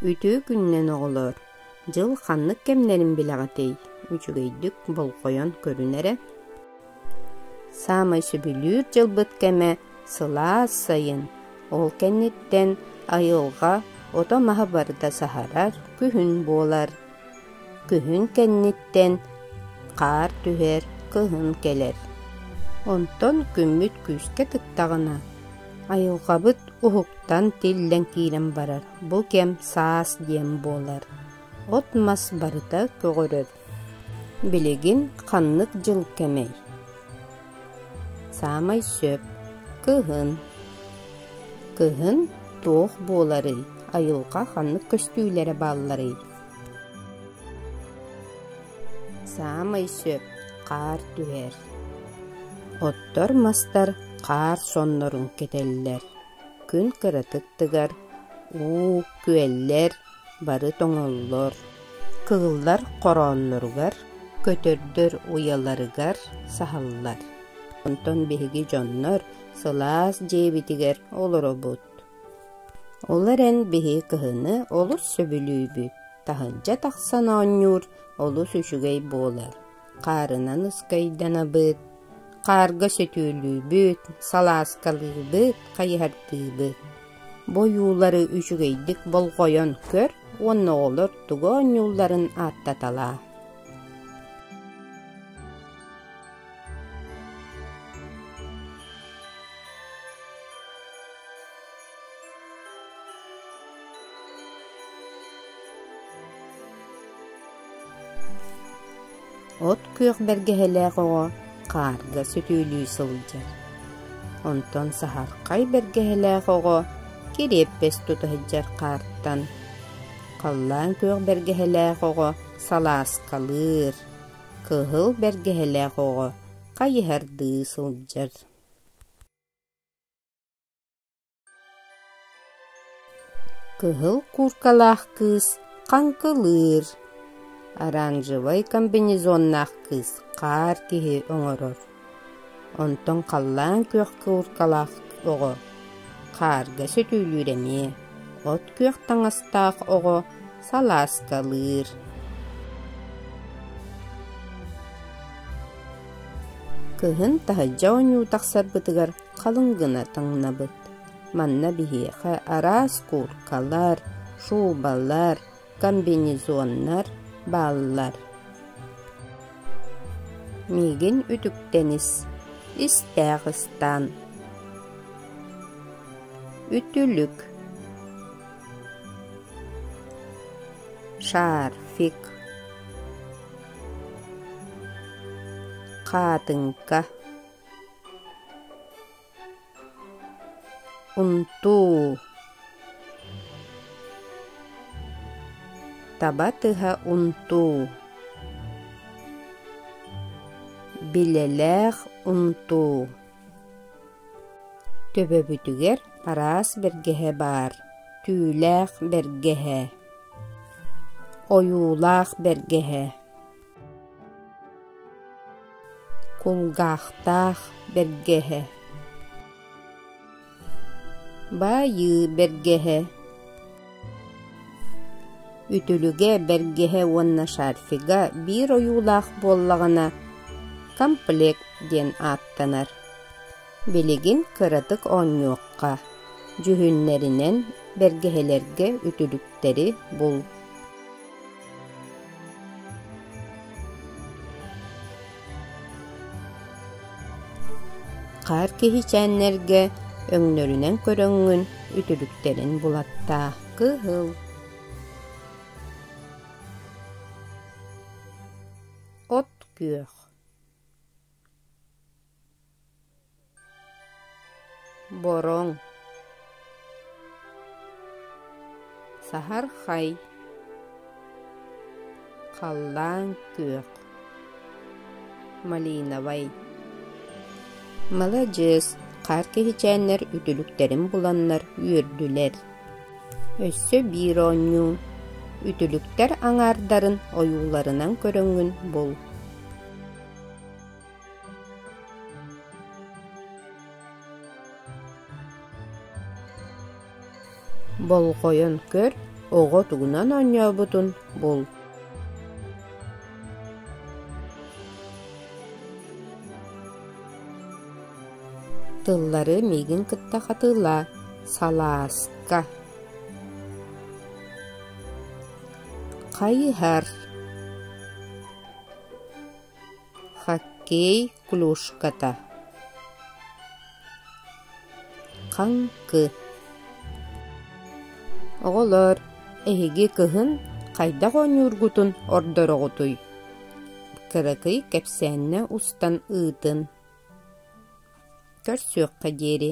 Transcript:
Үтүө күнүнэн, оҕолоор! Дьыл ханнык кэмнэрин билэҕитий? Үчүгэйдик болҕойон көрүн эрэ. Саамай сөбүлүүр дьылбыт кэмэ сылаас сайын. Ол кэнниттэн айылҕа ото-маһа барыта саһарар күһүн буолар. Күһүн кэнниттэн хаар түһэр, кыһын кэлэр. Онтон күммүт күүскэ тыктаҕына, айылҕабыт уһуктан тиллэн киирэн барар. Бу кэм саас диэн буолар. От-мас барыта көҕөрөр. Билигин ханнык дьыл кэмэй? Саамай сөп кыһын. Кыһын туох буоларый, айылҕа ханнык көстүүлэрэ баалларый? Саамай сөп хаар түһэр. Оттор-мастар хаар соннорун кэтэллэр. Күн кыратык тыгар, уу, күөллэр бары тоҥоллор, кыыллар хороонноругар, көтөрдөр уйаларыгар саһаллар. Онтон биһиги дьоннор сылаас дьиэбитигэр олоробут. Олор эн биһи кыһыны олус сөбүлүүбүт, таһырдьа тахсан оонньуур олус үчүгэй буолар. хаарынан ыскайданабыт, хаарга сөтүөлүүбүт, салааскалыыбыт, хайыһардыыбыт. Бу ойуулары үчүгэйдик болҕойон көр уонна оҕолор тугу оонньуулларын ааттаталаа. От күөх бэргэһэлээх оҕо хаарга сөтүөлүү сылдьар. Онтон саһархай бэргэһэлээх оҕо кириэппэс тута сылдьар хаартан. Халлаан күөх бэргэһэлээх оҕо салааскалыыр. Кыһыл бэргэһэлээх оҕо хайыһардыы сылдьар. Кыһыл кууркалаах кыыс хаҥкылыыр, оранжевай комбинезоннаах кыыс хаар киһи оҥорор. Онтон халлаан күөх кууркалаах оҕо хаарга сөтүөлүүр эмиэ, от күөх таҥастаах оҕо салааскалыыр. Кыһын таһырдьа ойнуу тахсарбытыгар халыҥ гына таҥнабыт. Манна биһиэхэ араас кууркалар, шубалар, комбинезоннар бааллар. Миигин үтүктэнис, истээх ыстаан. Үтүлүк шарфик хаатынка Унтуу Таба тыһа унтуу Билэлээх унтуу Төбөбүтүгэр араас бэргэһэ баар Түүлээх бэргэһэ Ойуулаах бэргэһэ Кулгаахтаах бэргэһэ Баайыы бэргэһэ Үтүлүгэ бэргэһэ уонна шарфига биир ойуулаах буоллаҕына комплект диэн ааттанар. Билигин кыратык оонньуохха, дьүһүннэринэн бэргэһэлэргэ үтүлүктэри бул. Хаар киһичээннэргэ өҥнөрүнэн көрөҥҥүн үтүлүктэрин булаттаа кыһыл От-күөх бороҥ саһархай халлаан күөх малиновай маладьыас хаар киһичээннэр үтүлүктэрин буланнар үөрдүлэр өссө биир оонньуу үтүлүктэр аҥаардарын ойууларынан көрөҥҥүн бул Болҕойон көр, оҕо тугунан оонньообутун бул Тыллары миигин кытта хатыылаа, салааска. Хайыһар Хоккей клюшката Хаҥкы Оҕолоор, эһиги кыһын хайдах оонньуургутун ордороҕутуй? Кыракый кэпсээннэ устан ыытын. Көрсүөххэ диэри